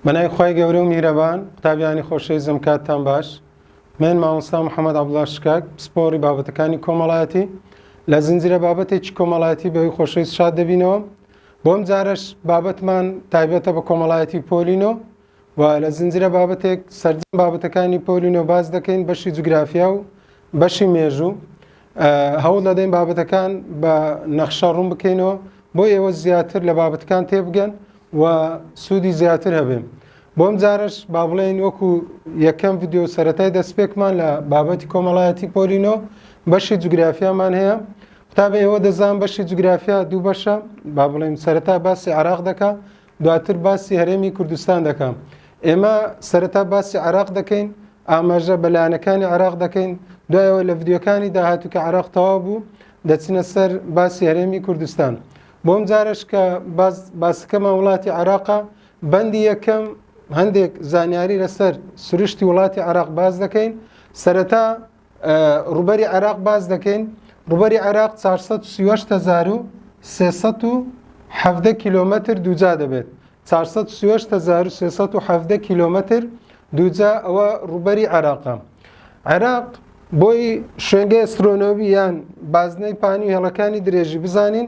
بەنای خی گەورە و میرەبان قوتابیانی خۆشەی زەمکاتتان باش من مامۆستا محەممەد عبدڵاش شکاک پسپۆری بابەتەکانی کۆمەڵایەتی لە زنجرە بابەتێکی کۆمەڵایەتی بەوی خۆشەویست شاد دەبینەوە بۆم جارش بابەتمان تایبەتە بە کۆمەڵایەتی پۆلینۆ و لە زنجیرە بابەتێک سەرجەم بابەتەکانی پۆلی نۆ باس دەکەین بەشی جوگرافیا و بەشی مێژوو هەوڵ دەدەین بابەتەکان بە نەخشە ڕوون بکەینەوە بۆ ئێوە زیاتر لە بابەتەکان تێبگەن و سوودی زیاتر هەبێن بۆم جارش با بڵێن وەکو یەکەم یددیو سەتای دەستپێکمان لە بابەتی کۆمەڵایەتی پۆلینۆ بەشی جوگرافیامان هەیە قوتابە ئێوە دەزان بەشی جوگرافیا دوو بەشە با بڵێن سەرەتا باسی عراق دەکە دواتر باسی هەرێمی کوردستان دەکەم ئێمە سەرەتا باسی عراق دەکەین ئاماژە بەلایەنەکانی عراق دەکەین دوایەوە لە ڤیددیوکانی داهاتوو کە عراق تەواو بوو دەچنە سەر باسی هەرێمی کوردستان بۆم جارش کە باسەکەمان وڵاتی عراقە بەندی یەکەم هەندێک زانیاری لەسەر سروشتی وڵاتی عراق باز دەکەین سەرەتا ڕووبەری عێراق باس دەکەین ڕووبەری عێراق 438 کیلومتر دووجا دەبێت 438 کیلومتر دووجا ئەوە ڕووبەری عێراقە عێراق بۆی شوێنگە ئەسترۆنۆمی یان بازنەی پانی هێڵەکانی درێژی بزانین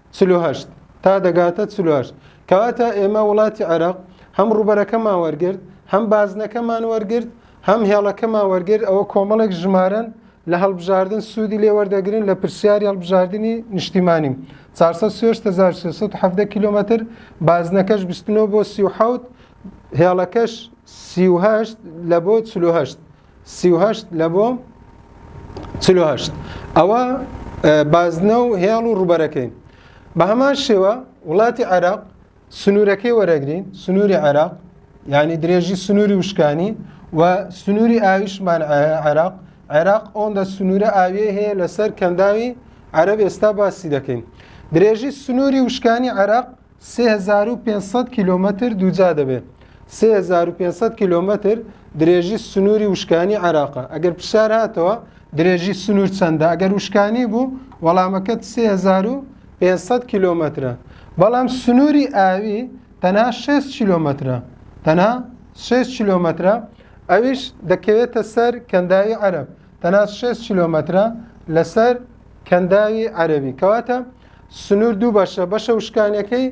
چل و هەشت تا دەگاتە چل و هەشت کەواتە ئێمە وڵاتی عێراق هەم ڕوبەرەکەمان وەرگرت هەم بازنەکەمان وەرگرت هەم هێڵەکەمان وەرگرت ئەوە کۆمەڵێک ژمارن لە هەڵبژاردن سوودی لێ وەردەگرن لە پرسیاری هەڵبژاردننی نیشتیمانی 4 کیلومتر بازنەکەش 29 بۆ 38 هێڵەکەش 38 لە بۆ 48 سی و هەشت لە بۆ چل و هەشت ئەوە بازنە و هێڵ و ڕوبەرەکەی بە هەمان شێوە وڵاتی عێراق سنوورەکەی وەرەگرین سنووری عێراق یعنی درێژی سنووری وشکانی و سنووری ئاویشمان عێراق عێراق ئەوەندە سنوورە ئاویە هەیە لەسەر کەنداوی عەرب ئێستا باسی دەکەین درێژی سنووری وشکانی عێراق سێ هەزار و پێنج سەد کیلۆمەتر دووجا دەبێت. سێ هەزار و پێنج سەد کیلۆمەتر درێژی سنووری وشکانی عێراقە. ئەگەر پرسیار هاتەوە درێژی سنوور چەندە؟ ئەگەر وشکانی بوو وەڵامەکەت سێ هەزار و پێنج سەد کیلۆمەترە. بەڵام سنووری ئاوی تەنها شەست کیلۆمەترە. تەنها شەست کیلۆمەترە ئەویش دەکەوێتە سەر کەنداوی عەرەب. تەنها شەست کیلۆمەترە لەسەر کەنداوی عەرەبی. کەواتە سنوور دوو بەشە، بەشە وشکانیەکەی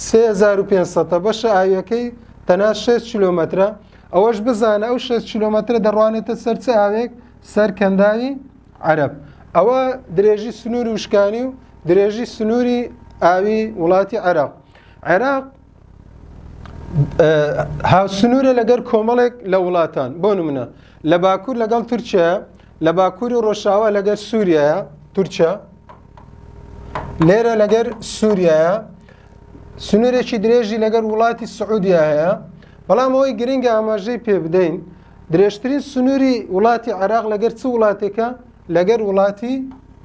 سێ هەزار و پێنج سەدە، بەشە ئاوییەکەی تەنها شەست کیلۆمەترە، ئەوەش بزانە ئەو شەست کیلۆمەترە دەڕوانێتە سەر چ ئاوێک؟ سەر کەنداوی عەرەب. ئەوە درێژی سنووری وشکانی و درێژی سنووری ئاوی وڵاتی عێراق. عێراق هاوسنوورە لەگەر کۆمەڵێک لە وڵاتان بۆ نمونە لە باکوور لەگەڵ تورکیا لە باکووری ڕۆژاوا لەگەر سووریایە تورکیا لێرە لەگەر سووریایە سنوورێکی درێژی لەگەر وڵاتی سعودیا هەیە بەڵام ئەوەی گرنگە ئاماژەی پێ بدەین درێژترین سنووری وڵاتی عراق لەگەر چ وڵاتێکە لەگەر وڵاتی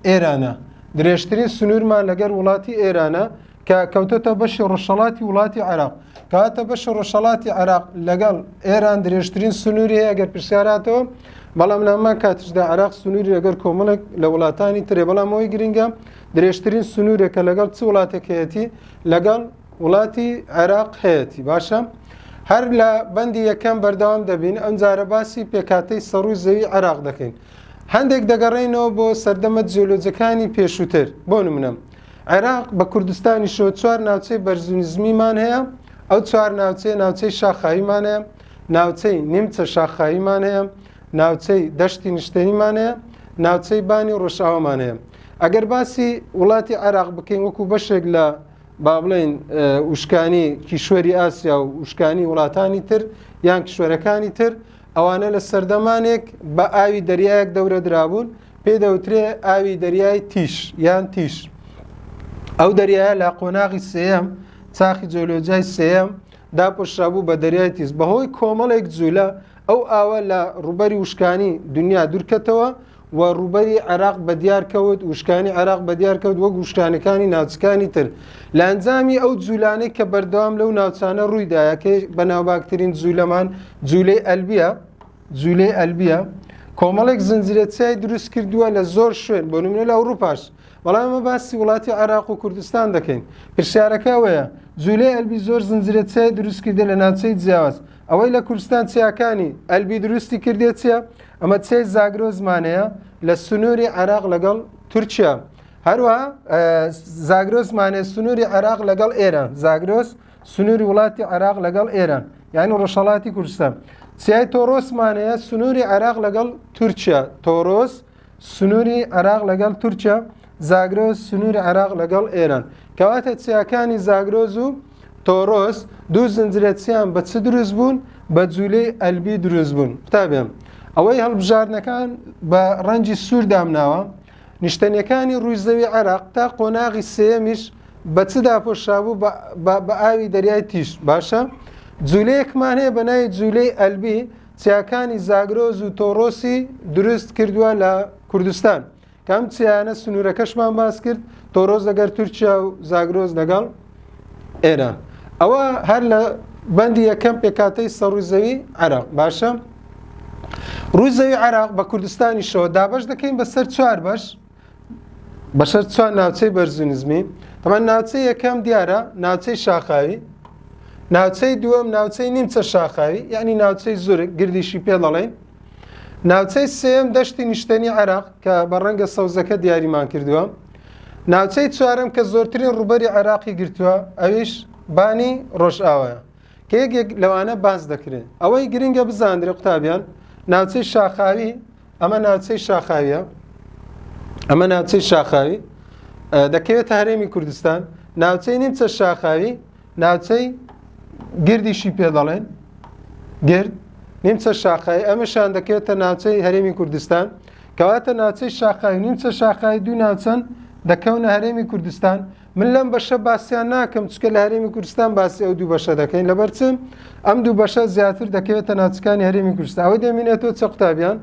ئێرانە درێژترین سنوورمان لەگەر وڵاتی ئێرانە کە کەوتۆتە بەشی ڕۆژهەڵاتی وڵاتی عێراق کەواتە بەشی ڕۆژهەڵاتی عێراق لەگەڵ ئێران درێژترین سنووری هەیە گەر پرسیاراتەوە بەڵام لەمان کاتشدا عراق سنووری لەگەر کۆمەڵێک لە وڵاتانی ترێ بەڵام ئەوی گرنگە درێژترین سنوورێکە لەگەڵ چ وڵاتێکەتی لەگەڵ وڵاتی عێراق هەیەی باشە هەر لە بەندی یەکەم بەردەوام دەبین ئەم جارە باسی پێکاتەی سەڕووی زەوی عێراق دەکەین هەندێک دەگەڕێنەوە بۆ سەردەمە جیۆلۆجەکانی پێشووتر بۆ نمونە عێراق بە کوردستانیشەوە چوار ناوچەی بەرزو نزمیمان هەیە ئەو چوار ناوچەیە ناوچەی شاخاییمان هەیە ناوچەی نیمچە شاخاییمان هەیە ناوچەی دەشتی نیشتەیمان هەیە ناوچەی بانی و ڕۆژاوامان هەیە ئەگەر باسی وڵاتی عێراق بکەین وەکو بەشێک لە با بڵێن وشکانی کیشوەری ئاسیا و وشکانی وڵاتانی تر یان کیشوەرەکانی تر ئەوانە لە سەردەمانێک بە ئاوی دەریایەک دەورە درابوون پێی دەوترێ ئاوی دەریای تیش یان تیش ئەو دەریایە لە قۆناغی سێەم چاخی جۆلۆجای سێەم داپۆشرابوو بە دەریای تیز بەهۆی کۆمەڵێک جوولە ئەو ئاوە لە ڕوبەری وشکانی دنیا دوورکەتەوە و ڕوبەری عێراق بە دیارکەوت وشکانی عێراق بە دیارکەوت وەک وشکانەکانی ناوچەکانی تر لە ئەنجامی ئەو جوولانەی کە بەردەوام لەو ناوچانە ڕوویدایە کە بەناوباکترین جوولەمان جوولەی ئەلبیە جولەی ئەلبیە کۆمەڵێک زنجیرە چیای دروست کردووە لە زۆر شوێن بۆ نمونە لە ئەوروپاش بەڵام ئەمە باسی وڵاتی عێراق و کوردستان دەکەین پرسیارەکە ئەوەیە جوولەی ئەلبی زۆر زنجرە چای دروست کردە لە ناوچەی جیاواز ئەوەی لە کوردستان چیاکانی ئەلبی دروستی کردێت چیە ئەمە چای زاگرۆزمانەیە لە سنووری عێراق لەگەڵ تورکیا هەروە زاگرۆزمانێ سنووری عێراق لەگەڵ ئێرە زاگرۆز سنووری وڵاتی عێراق لەگەڵ ئێران یعنی ڕۆژهڵاتی کوردستان سیای تۆرۆسمانەیە سنووری عێراق لەگەڵ تورکیا تۆرۆس سنووری عێراق لەگەڵ تورکیا زاگرۆز سنووری عێراق لەگەڵ ئێران کەواتە چیاکانی زاگرۆز و تۆرۆس دوو زنجرەچیان بە چ دروست بوون بە جوولەی ئەلبی دروست بوون قوتابێن ئەوەی هەڵبژاردنەکان بە ڕەنجی سوور دامناوە نیشتەنیەکانی ڕووی زەوی عێراق تا قۆناغی سێیەمیش بە چ داپۆشرابوو بە ئاوی دەریای تیش باشە جوولەیەکمان هەیە بە ناوی جوولەی ئەلبی چیاکانی زاگرۆز و تۆڕۆسی دروست کردووە لە کوردستان کەم چیانە سنوورەکەشمان باس کرد تۆڕۆز لەگەر تورکیا و زاگرۆز لەگەڵ ئێران ئەوە هەر لە بەندی یەکەم پێکاتەی سەڕووی زەوی عراق باشە ڕووی زەوی عراق بە کوردستانی شەوە دابش دەکەین بەسەر چوار بەش بەسەر چوار ناوچەی بەرزونزمی تەمان ناوچەی یەکەم دیارە ناوچەی شاخاوی ناوچەی دووەم ناوچەی نیمچە شاخاوی یعنی ناوچەی زورک گردیشی پێ دەڵێن ناوچەی سێم دەشتی نیشتنی عراق کە بە ڕەنگە سەوزەکە دیاریمان کردووە ناوچەی چوارەم کە زۆرترین ڕوبەری عێراقی گرتووە ئەویش بانی ڕۆژئاوایە کە یەکێک لەوانە باز دەکرێت ئەوەی گرنگە بزاندرێ قوتابیان ناوچەی شاخاوی ئەمە ناوچەی شاخاویە ئەمە ناوچەی شاخاوی دەکەوێت هەرێمی کوردستان ناوچەی نیمچە شاخاوی ناوچەی گردیشی پێ دەڵێن گرد نیمچە شاخایی ئەمەشان دەکرێتە ناوچەی هەرێمی کوردستان کەواتە ناوچەی شاخایی نیمچە شاخایی دوو ناوچەن دەکەونە هەرێمی کوردستان من لەم بەشە باسییان ناکەم چکە لە هەرێمی کوردستان باسی ئەو دوو بەشە دەکەین لەبەر چم ئەم دوو بەشە زیاتر دەکەوێتە ناوچەکانی هەرێمی کوردستان ئەوە دەمینێتەوە چە قوتابیان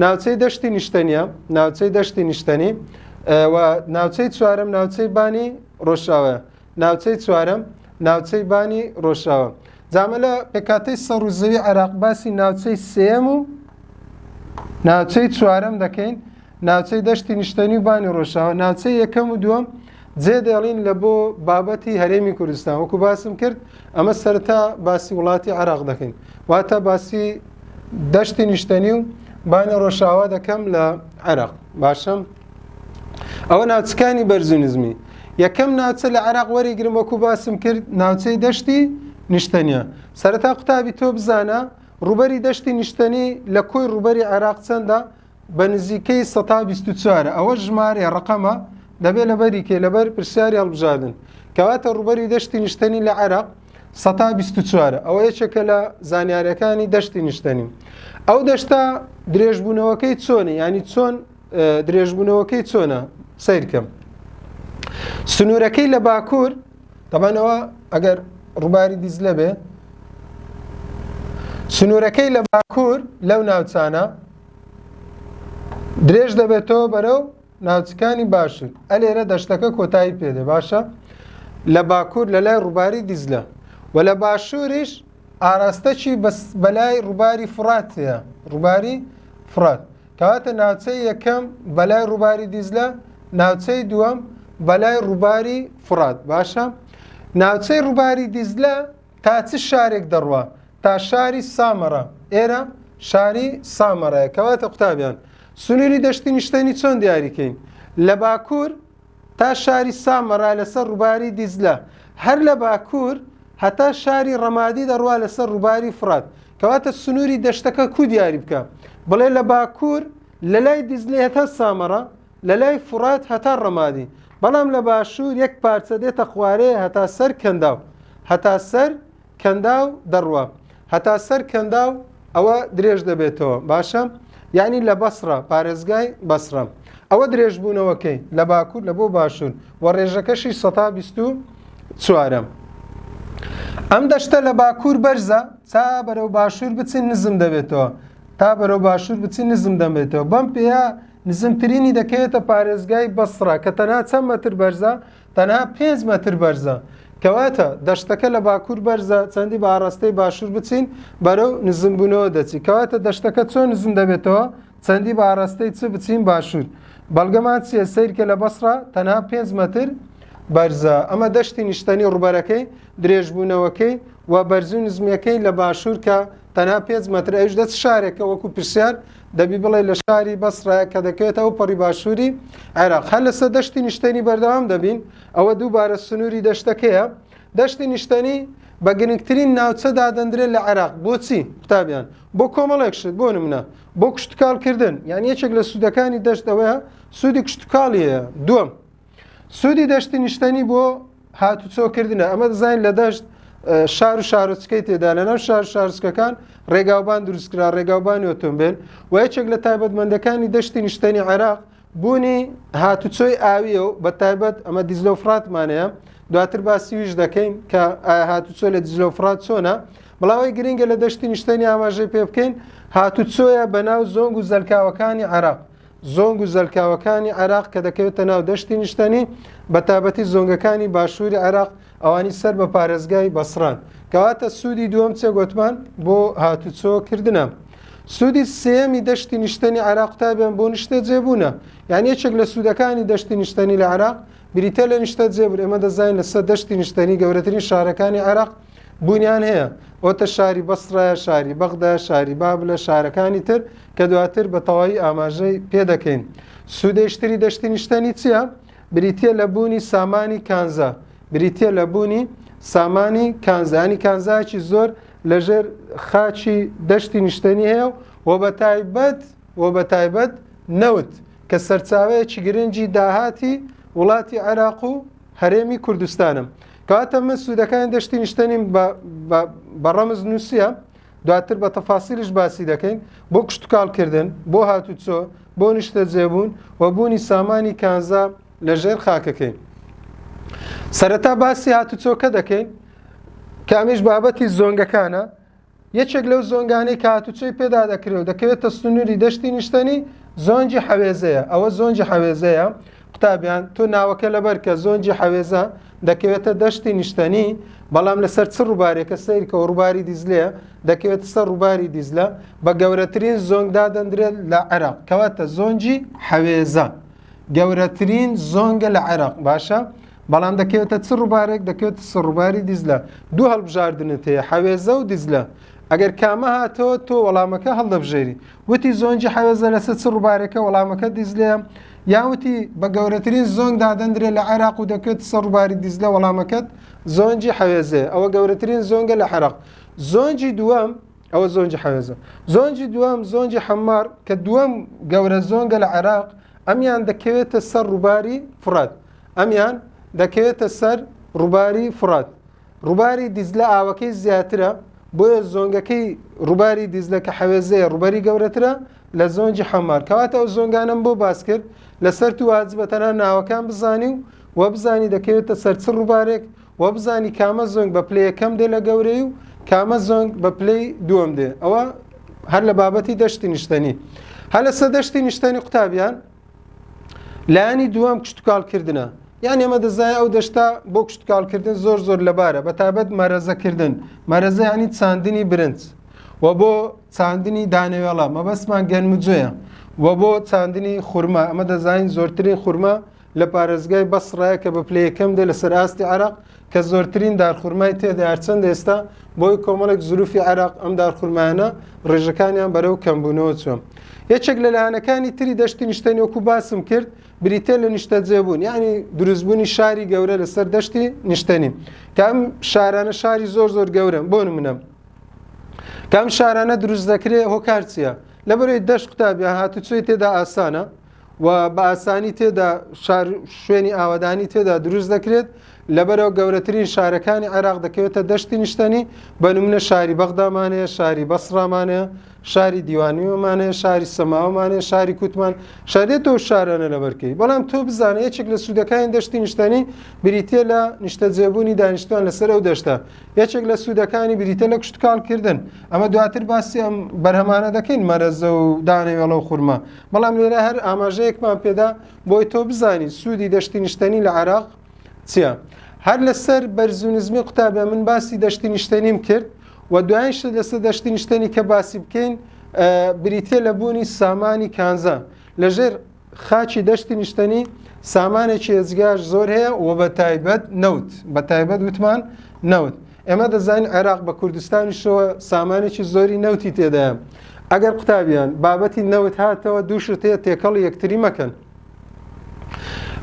ناوچەی دەشتی نیشتەنیە ناوچەی دەشتی نیشتەنی و ناوچەی چوارم ناوچەی بانی ڕۆژاوە ناوچەی چوارەم ناوچەی بانی ڕۆژاوە جامە لە پێکاتەی سەڕ و زەوی عێراق باسی ناوچەی سێم و ناوچەی چوارەم دەکەین ناوچەی دەشتی نیشتەنی و بانی ڕۆژاوە ناوچەی یەکەم و دووەم جێ دێڵین لە بۆ بابەتی هەرێمی کوردستان وەکو باسم کرد ئەمە سەرتا باسی وڵاتی عراق دەکەین واتە باسی دەشتی نیشتەنی و بانی ڕۆژاوا دەکەم لە عێراق باشم ئەوە ناوچەکانی بەرزو نزمی یەکەم ناوچە لە عراق وەریگرم وەکو باسم کرد ناوچەی دەشتی نیشتەنیە سەرەتا قوتابی تۆ بزانە ڕوبەری دەشتی نیشتەنی لە کۆی ڕوبەری عێراق چەندە بە نزیکەی 1940 ئەوە ژمارە ڕقەمە دەبێت لەبەری کێ لەبەر پرسیاری هەڵبژاردن کەواتە ڕوبەری دەشتی نیشتەنی لە عێراق 1940 ئەوە یەکێکە لە زانیارەکانی دەشتی نیشتەنی ئەو دەشتا درێژبوونەوەکەی چۆنی ینی چۆن درێژبوونەوەکەی چۆنە سیرکەم سنوورەکەی لە باکوور دەبانەوە ئەگەر ڕووباری دیزلە بێ سنوورەکەی لە باکوور لەو ناوچانە درێژ دەبێتەوە بەرەو ناوچەکانی باشن ئەلێرە دەشتەکە کۆتایی پێدە باشە لە باکوور لە لای ڕووباری دیزلە و لە باشووریش ئاراستەکی بەلای ڕووباری فڕاتەیە ڕووباری فرات کەواتە ناوچەی یەکەم بەلای ڕووباری دیزلە ناوچەی دووەم بەلای ڕووباری فڕات باشە ناوچەی ڕووباری دیزلە تا چ شارێک دەڕوە تا شاری سامەڕە ئێرە شاری سامەڕەیە کەواتە قوتابیان سنووری دەشتی نیشتەنی چۆن دیاریکەین لە باکوور تا شاری سامەرا لەسەر ڕووباری دیجلە، هەر لە باکوور هەتا شاری ڕەمادی دەڕوا لەسەر ڕووباری فڕات، کەواتە سنووری دەشتەکە کوو دیاری بکە، بڵێ لە باکوور لەلای دیجلە هەتا سامەرا، لەلای فڕات هەتا ڕەمادی، بەڵام لە باشوور یەک پارچە دێتە خوارێ هەتا سەر کەنداو، هەتا سەر کەنداو دەڕوا هەتا سەر کەنداو ئەوە درێژ دەبێتەوە باشە یعنی لە بەسرە پارێزگای بەسرە ئەوە درێژبوونەوەکەی لە باکوور لە بۆ باشوور و ڕێژەکەشی 1940 ئەم دەشتە لە باکوور بەرزە تا بەرەو باشوور بچین نزم دەبێتەوە تا بەرەو باشوور بچی نزم دەمێتەوە بەم پێەیە نزمترینی دەکەوێتە پارێزگای بەسرە کە تەنها چەند مەتر بەرزە تەنها پێنج مەتر بەرزە. کەواتە دەشتەکە لە باکوور بەرزە چەندی بە ئاڕاستەی باشوور بچین بەرەو نزمبوونەوە دەچی کەواتە دەشتەکە چۆن نزم دەبێتەوە چەندی بە ئاڕاستەی چ بچین باشوور بەڵگەمان چیە سیرکە لە بەسڕە تەنها پێنج مەتر بەرزە ئەمە دەشتی نیشتەنی ڕوبەرەکەی درێژبوونەوەکەی و بەرزو نزمیەکەی لە باشوور کە تەنها پێنج مەتر ئەوش دەچ شارێکە وەکو پرسیار دەبی بڵێ لە شاری بەسڕە کە دەکەوێت ئەو پەڕی باشووری عێراق هەر لەسەر دەشتی نیشتێنی بەردەوام دەبین ئەوە دووبارە سنووری دەشتەکەیە دەشتی نیشتەنی بە گرنگترین ناوچە دادەندرێت لە عێراق بۆچی قوتابیان بۆ کۆمەڵێک شت بۆ نمونە بۆ کشتتوکالکردن یان یەکێک لە سوودەکانی دەشت ئەوەیە سوودی کشتتوکاڵیەیە دوم سوودی دەشتی نیشتەنی بۆ هاتوچۆکردنە ئەمە دەزانین لە دەشت شار و شارۆچکەی تێدا لەناو شار شارچکەکان ڕێگاوبان دروستکرا ڕێگاوبانی ئۆتۆمبیل و یەکێک لە تایبەتمەندەکانی دەشتی نیشتەنی عێراق بوونی هاتوچۆی ئاویە و بە تایبەت ئەمە دیزلە و فراتمانەیە دواتر باسیویش دەکەین کە هاتوچۆ لە دیزلە و فرات چۆنە بڵاوی گرنگە لە دەشتی نیشتەنی ئاماژەی پێ بکەین هاتوچۆیە بەناو زۆنگ و زەلکاوەکانی عراق زۆنگ و زەلکاوەکانی عێراق کە دەکەوێتە ناو دەشتی نیشتەنی بە تابەتی زۆنگەکانی باشووری عێراق ئەوانی سەر بە پارێزگای بەسران کەواتە سوودی دووەم چێ گوتمان بۆ هاتوچۆ کردنە. سوودی سێمی دەشتی نیشتەنی عراق تابیان بۆ نیشتە جێبوونە یان یەکێک لە سوودەکانی دەشتی نیشتەنی لە عراق بریتە لە نیشتە جێبوون ئێمە دەزانین لەسەر دەشتی نیشتەنی گەورەترین شارەکانی عراق بوونیان هەیە ئۆتە شاری بەسڕایە شاری بەغدا شاری باب لە شارەکانی تر کە دواتر بە تەواوی ئاماژەی پێ دەکەین سوودێشتری دەشتی نیشتەنی چییە؟ بریتە لە بوونی سامانی کانزا بریتە لە بوونی سامانی کانزانی کانزاکی زۆر لەژێر خاچی دەشتی نیشتەنی هەیە و بە تایبەت و بە تایبەت نەوت کە سەرچاوەیەکی گرنگی داهاتی وڵاتی عێراق و هەرێمی کوردستانم کەواتە من سوودەکانی دەشتی نیشتەنیم بە ڕەمز نووسە دواتر بە تەفاسیلیش باسی دەکەین بۆ کشتتوکالکردن بۆ هاتوچۆ بۆ نیشتە جێبوون و بوونی سامانی کانزا لە ژێر خاکەکەین سەرەتا باسی هاتوچۆکە دەکەین کامیش بابەتی زۆنگەکانە یەکێک لەو زۆنگانەی کە هاتوچۆی پێدا دەکرێ و دەکەوێتە سنووری دەشتی نیشتەنی زۆنگی حەوێزەیە ئەوە زۆنگی حەوێزەیە قوتابیان تۆ ناوەکە لەبەر کە زۆنگی حەوێزە دەکەوێتە دەشتی نیشتەنی بەڵام لەسەر چ ڕووبارێکە سیرکە و ڕووباری دیزلێ دەکەوێت سەر ڕووباری دیزلە بە گەورەترین زۆنگدا دەندرێت لە عێراق کەواتە زۆنگی حەوێزە گەورەترین زۆنگە لە عێراق باشە بەڵام دەکەوێتە چ ڕووبارێک دەکەوێت سە ڕووباری دیزلە دوو هەڵبژاردنت هەیە حەوێزە و دیزلە ئەگەر کامە هاتەوە تۆ وەڵامەکە هەڵدەبژێری وتی زۆنجی حەوێزە لەسەر چ ڕووبارەکە وەڵامەکە دیزلەیە یاوتی بە گەورەترین زۆنگ دادەندرێت لە عێراق و دەکرێت سە ڕووباری دیزلە وەڵامەکەت زۆنجی حەوێزێ ئەوە گەورەترین زۆنگە لە عێراق زۆنجی دووەم ئەوە زۆنجی حەوێزە زۆنجی دووەم زۆنجی حەمار کە دووەم گەورە زۆنگە لە عێراق ئەمیان دەکەوێتە سەر ڕووباری فرات ئەمیان دەکەوێتە سەر ڕووباری فڕات. ڕووباری دیزلە ئاوەکەی زیاترە، بۆیە زۆنگەکەی ڕووباری دیزلە کە حەوێزەیە ڕووبەری گەورەترە لە زۆنگی حەمار. کەواتە ئەو زۆنگانەم بۆ باس کرد لەسەر تو واجبە تەنها ناوەکان بزانی و وە بزانی دەکەوێتە سەر چ ڕووبارێک وە بزانی کامە زۆنگ بە پلەیە کەم دێ لە گەورەی و کامە زۆنگ بە پلەی دووەم دێ ئەوە هەر لە بابەتی دەشتی نیشتەنی هەر لەسە دەشتی نیشتەنی قوتابیان لایەنی دووەم کشتتوکالکردە یان ئێمە دەزای ئەو دەشتا بۆ کشتتوکالکردن زۆر زۆر لەبارە بە تابەت مەرەزەکردن مەرەزەیانی چاندنی برنج و بۆ چاندنی دانەوێڵە مەبەستمان گەنمجوێە و بۆ چاندنی خورما ئەمە دەزانین زۆرترین خورما لە پارێزگای بەسڕایە کە بە پلەیەکەم دێ لەسەر ئاستی عراق کە زۆرترین دارخورمای تێدا هەرچەندە ئێستا بۆی کۆمەڵێک زروفی عێراق ئەم دارخورمانە ڕێژەکانیان بەرەو کەمبوونەوە چوە یەکێک لە لایەنەکانی تری دەشتی نیشتە نۆکو باسم کرد بریتە لە نیشتە جێبوون یعنی دروستبوونی شاری گەورە لەسەر دەشتی نیشتەنی کام شارانە شاری زۆر زۆر گەورم بۆ منە کام شارانە دروست دەکرێت هۆکارچیە لەبەرەی دەشت قوتابیان هاتوچۆی تێدا ئاسانە و بە ئاسانی تێدا شار شوێنی ئاوادانی تێدا دروست دەکرێت لەبەرەوە گەورەترین شارەکانی عێراق دەکەوێتە دەشتی نیشتنی بە نمونە شاری بەغدامانەیە شاری بەسڕامانەیە شاری دیوانیوەمانەیە شاری سەماوەمانەیە شاری کوتمان شارێت و شارانە لەبەرکەی بەڵام تۆ بزانە یەکێک لە سوودەکانی دەشتی نیشتنی بریتە لە نیشتە جێبوونی دانیشتوان لەسەر ئەو دەشتە یەکێک لە سوودەکانی بریتە لە کوشتکالکردن ئەمە دواتر باسی ئەم بەرهەمانە دەکەین مەرەزە و دانەوێڵە و خورمە بەڵام لێرە هەر ئاماژەیەکمان پێدا بۆی تۆ بزانیت سوودی دەشتی نیشتەنی لە عراق چیە هەر لەسەر بەرزو نزمی قوتابە من باسی دەشتی نیشتەنیم کرد و دوایش لەسەر دەشتی نیشتەنی کە باسی بکەین بریتە لە بوونی سامانی کانزا لەژێر خاچی دەشتی نیشتەنی سامانێکی ئێزگار زۆر هەیە و بە تایبەت نەوت بە تایبەت وتمان نەوت ئێمە دەزانین عێراق بە کوردستانیشەوە سامانێکی زۆری نەوتی تێدایە ئەگەر قوتابیان بابەتی نەوت هاتەوە دوو شت هەیە تێکەڵ یەکتری مەکەن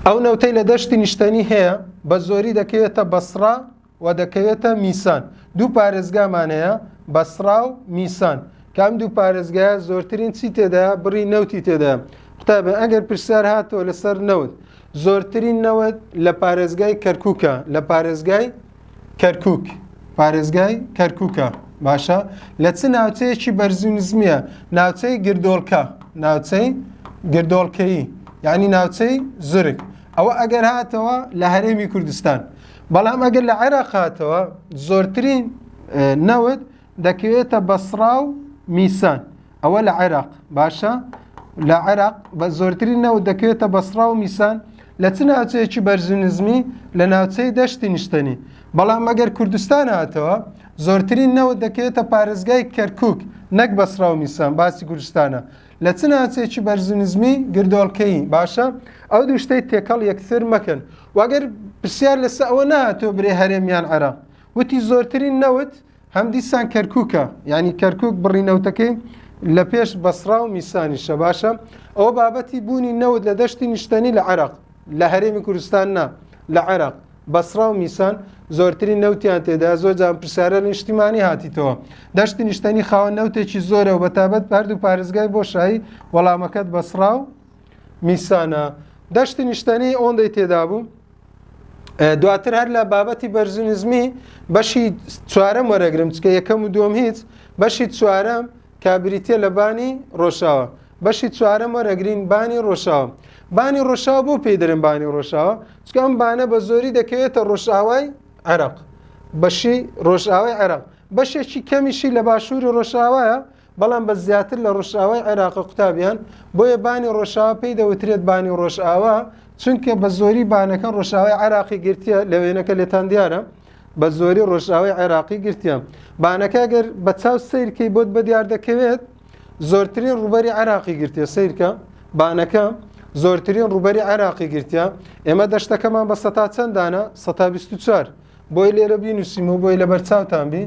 ئەو نەوتەی لە دەشتی نیشتەنی هەیە بە زۆری دەکەوێتە بەسرا و دەکەوێتە میسان دوو پارێزگامان هەیە بەسرا و میسان کام دوو پارێزگایە زۆرترین چی تێدا بڕی نەوتی تێدا قوتابە ئەگەر پرسیار هاتەوە لەسەر نەوت زۆرترین نەوت لە پارێزگای کەرکووکە لە پارێزگای کەرکک پارێزگای کەرککە باشە لە چ ناوچەیەکی بەرزی نزمیە ناوچەی گردۆلکە ناوچەی گردۆڵکەیی یعنی ناوچەی زرک ئەوە ئەگەر هاتەوە لە هەرێمی کوردستان بەڵام ئەگەر لە عێراق هاتەوە زۆرترین نەوت دەکەوێتە بەسرا و میسان ئەوە لە عێراق باشە لە عێراق بە زۆرترین نەوت دەکەوێتە بەسڕا و میسان لە چ ناوچەیەکی بەرزونزمی لە ناوچەی دەشتی نیشتنی بەڵام مەگەر کوردستان هاتەوە زۆرترین نەوت دەکەوێتە پارێزگای کەرکک نەک بەسڕا و میسان باسی کوردستانە لە چ ناوچێکی بەرزونزمی گردۆڵکەی باشە ئەو دوو شتەی تێکەڵ یەکسر مەکەن وەگەر پرسیار لەسە ئەوە ناتۆ برێ هەرێمیان عێراق وتی زۆرترین نەوت هەم دیسان کەرکووکە یعنی کەرکک بڕی نەوتەکەی لە پێش بەسرا و میسانیشە باشە ئەوە بابەتی بوونی نەوت لە دەشتی نیشتەنی لە عێراق لە هەرێمی کوردستان نا لە عێراق بەسرا و میسان زۆرتری نەوتیان تێدا زۆر جان پرسیارە نیشتیمانی هاتیتەوە دەشتی نیشتەنی خاوە نەوتێکی زۆرە و بەتابەت هەردوو پارێزگای بۆ شایی وەڵامەکەت بەسرا و میسانە دەشتی نیشتەنی ئەوەندەی تێدا بوو دواتر هەر لە بابەتی بەرزنزمی بەشی چوارەم وەرەگرم چکە یەکەم و دوم هیچ بەشی چوارەم کابریتە لە بانی ڕۆژاوە بەشی چوارەم وەرەگرین بانی ڕۆژاوە بانی ڕۆژاوە بۆ پێی دەرم بانی ڕۆژاوە چکە ئەم بانە بە زۆری دەکەوێتە ڕۆژاوای عێراق بەشی ڕۆژاوای عێراق بەشێکی کەمیشی لە باشووری ڕۆژاوایە بەڵام بە زیاتر لە ڕۆژئاوای عێراقە قوتابیان بۆیە بانی ڕۆژاوا پێی دەوترێت بانی ڕۆژئاوا چونکە بە زۆری بانەکە ڕۆژاوای عراقی گرتیە لە وێنەکە لێتان دیارە بە زۆری ڕۆژاوای عێراقی گرتیە بانەکە گەر بە چاو سیرکەی بۆت بە دیار دەکەوێت زۆرترین ڕوبەری عراقی گرتیە سیرکە بانەکە زۆرترین ڕوبەری عراقی گرتیە ئێمە دەشتەکەمان بە سەتا چەندانە سەتا 24 بۆی لێرە بینوسیم و بۆی لەبەر چاوتان بی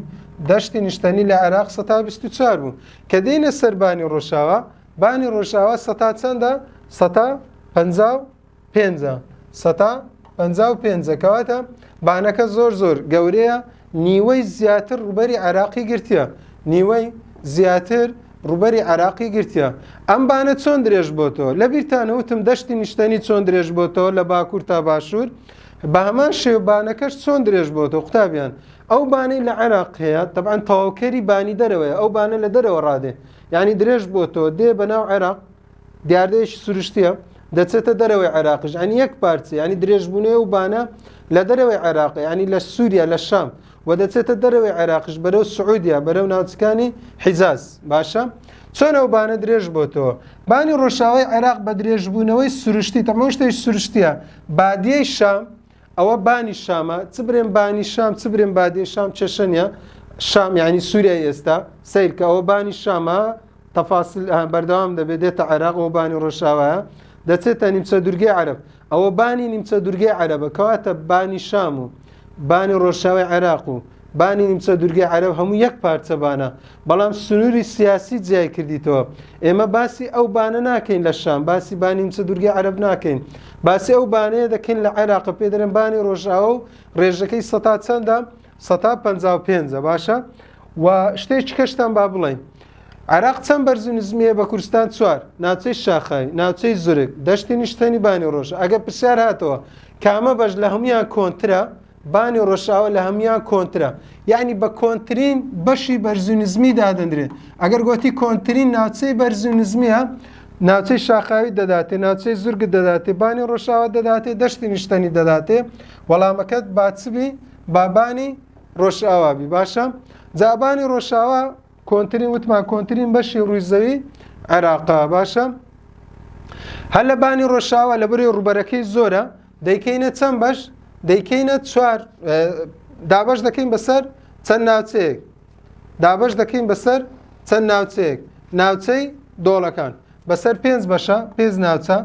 دەشتی نیشتەنی لە عێراق سەتا بیست و چوار بوو کە دێنە سەر بانی ڕۆژاوا بانی ڕۆژاوا سەتا چەندە سەتا پەنجا و پێنجە سەتا پەنجا و پێنجە کەواتە بانەکە زۆر زۆر گەورەیە نیوەی زیاتر ڕوبەری عراقی گرتیە نیوەی زیاتر ڕوبەری عراقی گرتیە ئەم بانە چۆن درێژ بۆ تۆ لە بیرتانەوتم دەشتی نیشتەنی چۆن درێژ بۆ تۆ لە باکوور تا باشوور بەهەمان شێوە بانەکەش چۆن درێژ بۆتەوە قوتابیان ئەو بانەی لە عێراق هەیە تەبان تەواوکەری بانی دەرەوەی ئەو بانە لە دەرەوە ڕادێ یعنی درێژ بۆتەوە دێ بە ناو عێراق دیاردەیەکی سروشتیە دەچێتە دەرەوەی عێراقش ئەنی یەک پارچە ینی درێژبوونێ و بانە لە دەرەوەی عێراق ینی لە سووریا لە شام و دەچێتە دەرەوەی عێراقش بەرەو سعودیا بەرەو ناوچەکانی حیزاز باشە چۆن ئەو بانە درێژ بۆتەوە بانی ڕۆژاوای عێراق بە درێژبوونەوەی سروشتی تەمۆشتێک سروشتیە بادیەی شام ئەوە بانی شامە چ برێن بانی شام چ برێن بادێ شام چێشەنە شام یعنی سووریای ئێستا سیرکە ئەوە بانی شامە تەفاسل بەردەوام دەبێت دێتە عێراق و بانی ڕۆژاوایە دەچێتە نیمچە دورگەی عرب ئەوە بانی نیمچە دورگەی عربە کەواتە بانی شام و بانی ڕۆژاوی عێراق و بانی نیمچە دورگەی عەرەب هەموو یەک پارچە بانە بەڵام سنووری سیاسی جیای کردیتەوە ئێمە باسی ئەو بانە ناکەین لە شام باسی بانی نیمچە دورگەی عەرەب ناکەین باسی ئەو بانەیە دەکەین لە عێراقە پێ دەرم بانی ڕۆژاوە و ڕێژەکەی سەتا چەندە سەتا پ پێنجە باشە و شتێکی کەشتان با بڵین عراق چەند بەرز و نزمیە بە کوردستان چوار ناوچەی شاخای ناوچەی زورک دەشتی نیشتەنی بانی ڕۆژ ئەگە پرسیار هاتەوە کامە بەش لە هەمویان کۆنترە بانی ڕەشاوە لە هەموان کۆنترە یعنی بە کۆنتترین بەشی بەرزونزمی دادەندرێت ئەگەر گوتی کۆنتترین ناوچەی بەرزونزمیە ناوچەی شاخاوی دەداتێ ناوچەی زورگ دەداتێ بانی ڕەشاوە دەداتێ دەشتی نیشتنی دەداتێ وەڵامەکەت باچبی بابانی ڕۆژئاوابی باشە جابانی ڕۆژاوە کۆنتترین وتمان کۆنتترین بەشی ڕووی زەوی عێراقا باشە هەر لە بانی ڕۆژاوە لە بەرەی ڕوبەرەکەی زۆرە دەیکەینە چەند بەش دەیکەینە چوار دابش دەکەین بەسەر چەند ناوچەیەک دابش دەکەین بەسەر چەند ناوچەیەک ناوچەی دۆڵەکان بەسەر پێنج بەشە پێنج ناوچە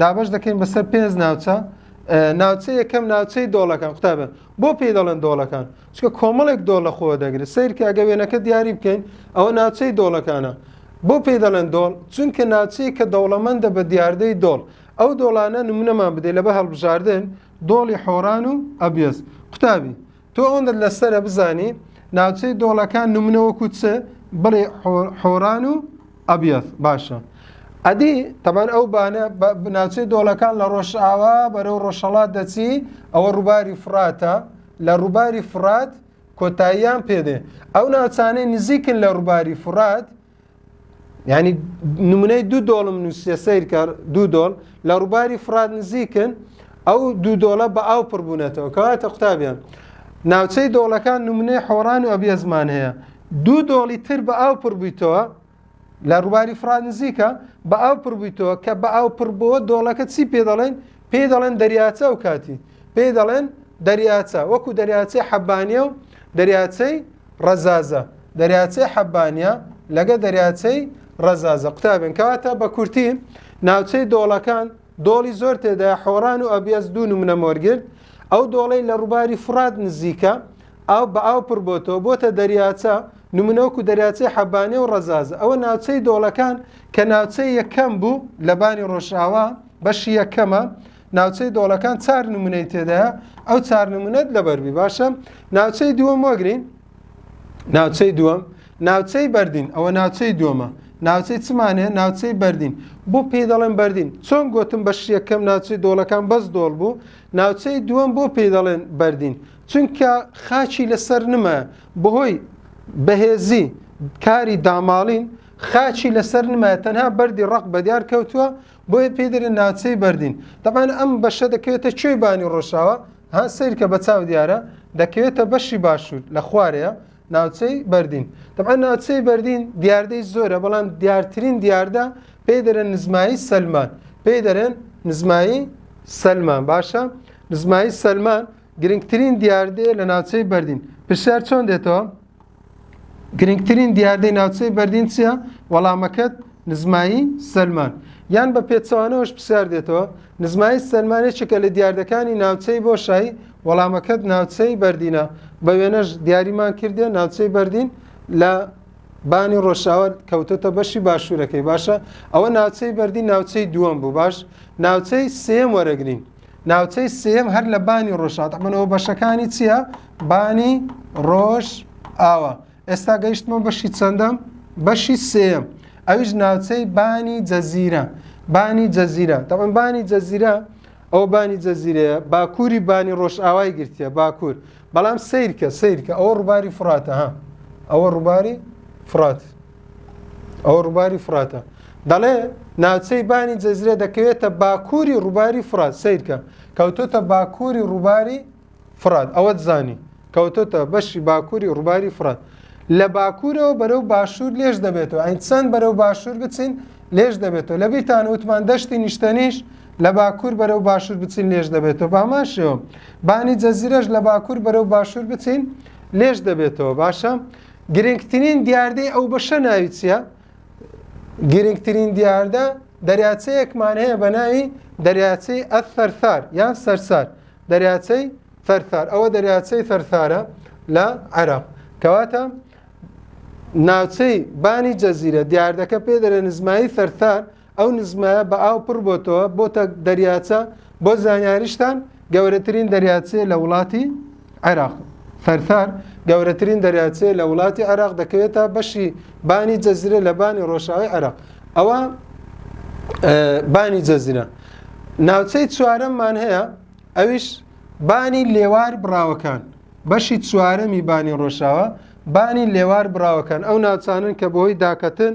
دابش دەکەین بەسەر پێنج ناوچە ناوچە یەکەم ناوچەی دۆڵەکان قوتابە بۆ پێی دەڵێن دۆڵەکان چکە کۆمەڵێک دۆڵ لە خۆ دەگرێت سیرکە ئەگە وێنەکە دیاری بکەین ئەوە ناوچەی دۆڵەکانە بۆ پێی دەڵێن دۆڵ چونکە ناوچەیە کە دەوڵەمەندە بە دیاردەی دۆڵ ئەو دۆڵانە نمونەمان بدەی لەبە هەڵبژاردن دۆڵی حۆران و ئەبیەز قوتابی تۆ ئەوەندت لەسرە بزانی ناوچەی دۆڵەکان نمونەوەکو چ بڵێ حۆران و ئەبیەز باشە ئەدی تەبان ئەو بانە ناوچەی دۆڵەکان لە ڕۆژئاوا بەرەو ڕۆژهڵات دەچی ئەوە ڕووباری فراتە لە ڕووباری فرات کۆتاییان پێدێ ئەو ناوچانەی نزیکن لە ڕووباری فرات ینی نمونەی دوو دۆڵم نووسە سیرکە دوو دۆڵ لە ڕووباری فراد نزیکن ئەو دوو دۆڵە بە ئاو پڕبوونەتەوە کەواتە قوتابیان ناوچەی دۆڵەکان نمونەی حۆڕان و ئەبیێزمان هەیە دوو دۆڵی تر بە ئاو پڕبوویتەوە لە ڕووباری فراد نزیکە بە ئاو پڕبوویتەوە کە بە ئاو پڕبووە دۆڵەکە چی پێ دەڵێن پێی دەڵێن دەریاچە و کاتی پێی دەڵێن دەریاچە وەکو دەریاچەی حەبانە و دەریاچەی ڕەزازە، دەریاچەی حەبانیە لەگە دەریاچەی ڕەزازە قوتابێن کەواتە بە کورتی ناوچەی دۆڵەکان دۆڵی زۆر تێدایە حۆڕان و ئەبیەز دوو نمونە مۆرگرد ئەو دۆڵەی لە ڕووباری فرات نزیکە ئاو بە ئاو پڕ بۆتەوە بۆتە دەریاچە نمونەوەکو دەریاچەی حەبانێ و ڕەزازە ئەوە ناوچەی دۆڵەکان کە ناوچەی یەکەم بوو لە بانی ڕۆژاوا بەشی یەکەمە ناوچەی دۆڵەکان چار نمونەی تێدایە ئەو چار نمونەت لەبەربی باشە ناوچەی دووەم وەگرین ناوچەی دووەم ناوچەی بەردین ئەوە ناوچەی دووەمە ناوچەی چمانێ ناوچەی بەردین بۆ پێی دەڵێن بەردین چۆن گوتم بە شیەکەم ناوچەی دۆڵەکان بەس دۆڵ بوو ناوچەی دووەم بۆ پێی دەڵێن بەردین چونکە خاچی لەسەر نمە بەهۆی بەهێزی کاری داماڵین خاچی لەسەر نمایە تەنها بەری ڕق بەدیار کەوتووە بۆیە پێی دەرێن ناوچەی بەردین دەبان ئەم بەشە دەکەوێتە کوێی بانی ڕۆژاوە ها سیرکە بە چاو دیارە دەکەوێتە بەشی باشوور لە خوارەیە ناوچەی بەردین دەبان ناوچەی بەردین دیاردەی زۆرە بەڵام دیارترین دیاردە پێی دەرێن نزمایی سەلمان پێی دەرێن نزمایی سەلمان باشە نزمایی سەلمان گرنگترین دیاردەیە لە ناوچەی بەردین پرسیار چۆن دێتەوە گرنگترین دیاردەی ناوچەی بەردین چییە؟ وەڵامەکەت نزمایی سەلمان یان بە پێچەوانەوەش پرسیار دێتەوە نزمایی سەلمان یەکێکە لە دیاردەکانی ناوچەی بۆشایی وەڵامەکەت ناوچەی بەردینە بە وێنەش دیاریمان کردێ ناوچەی بەردین لە بانی ڕۆژاوە کەوتۆتە بەشی باشوورەکەی باشە ئەوە ناوچەی بەردی ناوچەی دووەم بوو باش ناوچەی سێم وەرەگرین ناوچەی سێیەم هەر لە بانی ڕۆژهات ئەمەەوە بەشەکانی چییە؟ بانی ڕۆژ ئاوە ئێستا گەیشتمە بەشی چەندەم بەشی سێم ئەویش ناوچەی بانی جەزیرە بانی جەزیرە دەڵم بانی جەزیرە ئەو بانی جەزیرەیە باکووری بانی ڕۆژئاوای گرتیە باکوور بەڵام سیرکە سیرکە ئەوە ڕووباری فراتە ها ئەوە ڕووباری فرات ئەو ڕووباری فراتە دەڵێ ناوچەی بانی جەزرێ دەکەوێتە باکووری ڕووباری فرات سیرکە کەوتۆتە باکووری ڕووباری فرات ئەوەت زانی کەوتۆتە بەشی باکووری ڕووباری فرات لە باکوورەوە بەرەو باشوور لێش دەبێتەوە ئەین چەند بەرەو باشوور بچین لێش دەبێتەوە لە بیرتان وتمان دەشتی نیشتەنیش لە باکوور بەرەو باشوور بچین لێش دەبێتەوە باماشەوە بانی جەزیرەش لە باکوور بەرەو باشوور بچین لێش دەبێتەوە باشە گرنگترین دیاردەی ئەو بەشە ناوی چییە؟ گرنگترین دیاردە دەریاچەیەکمان هەیە بە ناوی دەریاچەی ئەثەرثار یان سەرسار دەریاچەی ثەرثار ئەوە دەریاچەی ثەرثارە لە عێراق کەواتە ناوچەی بانی جەزیرە دیاردەکە پێ دەرە نزمایی ثەرثار ئەو نزمایە بە ئاو پڕ بۆتەوە بۆتە دەریاچە بۆ زانیاریشتان گەورەترین دەریاچێ لە وڵاتی عێراق فەرثار گەورەترین دەریاچێ لە وڵاتی عێراق دەکەوێتە بەشی بانی جەزیرە لە بانی ڕۆژاوی عێراق ئەوە بانی جەزیرە ناوچەی چوارەممان هەیە ئەویش بانی لێوار بڕاوەکان بەشی چوارەمی بانی ڕۆژاوە بانی لێوار بڕاوەکان ئەو ناوچانن کە بۆی داکەتن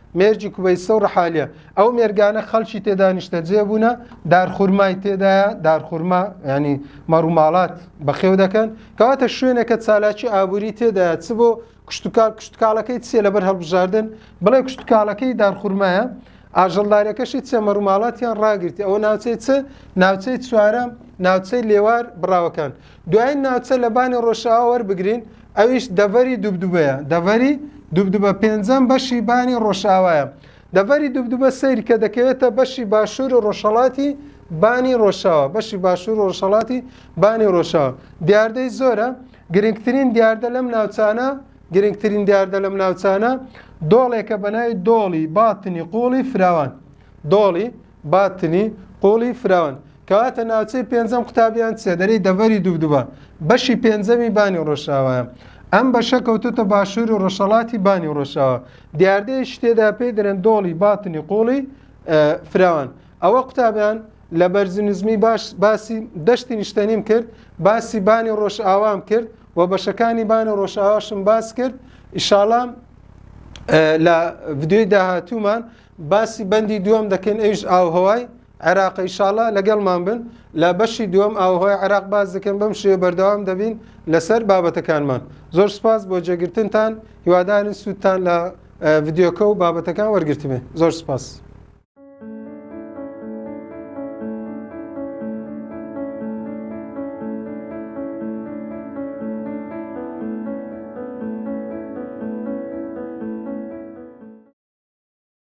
مێرگی کوبەیسە و ڕحالیە ئەو مێرگانە خەڵکی تێدا نیشتەجێ بوونە دارخورمای تێدایە دارخورما ینی مەڕوماڵات بەخێو دەکەن کەواتە شوێنەکە چالاکی ئابووری تێدا چ بۆ کوشتتوکال کوشتتکاڵەکەی چیە لەبەر هەڵبژاردن بڵێ کوشتتکاڵەکەی دارخورمایە ئاژەڵدارەکەشی چە مەڕوماڵاتیان ڕاگررتی ئەوە ناوچەی چ ناوچەی چوارە ناوچەی لێوار بڕاوەکان دوایین ناوچە لە بانی ڕۆژاوا وەربگرین ئەویش دەڤەری دوبدوبەیە دەڤەری دوبدوبە پێنجەم بەشی بانی ڕۆژاوایە دەڤەری دوبدوبە سەیری کە دەکەوێتە بەشی باشوور و ڕۆژهڵاتی بانی ڕۆژاوا بەشی باشوور و ڕۆژهڵاتی بانی ڕۆژاوا دیاردەی زۆرە گرنگترین دیاردە لەم ناوچانە گرنگترین دیاردە لەم ناوچانە دۆڵێکە بە ناوی دۆڵی باتنی قوڵی فراوان دۆڵی باتنی، قووڵی فراوان، کەواتە ناوچەی پێنجەم قوتابی یان چێدەرەی دەڤەری دوبدوبە، بەشی پێنجەمی بانی ڕۆژئاوایە. ئەم بەشە کەوتۆتە باشوور و ڕۆژهەڵاتی بانی ڕۆژئاوا. دیاردەیەکی تێدا پێی دەرێن دۆڵی باتنی قووڵی فراوان. ئەوە قوتابیان لە بەرزنزمی باش باسی دەشتی نیشتەنیم کرد، باسی بانی ڕۆژئاوام کرد و بەشەکانی بانی ڕۆژئاواشم باس کرد. ئیشاڵام لە ڤیدیۆی داهاتوومان باسی بەندی دووەم دەکەین ئەویش ئاوهەوای عێراق ئیشاڵە لەگەڵمان بن لە بەشی دووەم ئاوهۆی عێراق باز دەکەن بەم شێ بەردەوام دەبین لەسەر بابەتەکانمان زۆر سپاس بۆ جێگرتنتان هیوادارن سوودتان لە ڤیددیوکە و بابەتەکان وەرگرتمێ زۆر سپاس.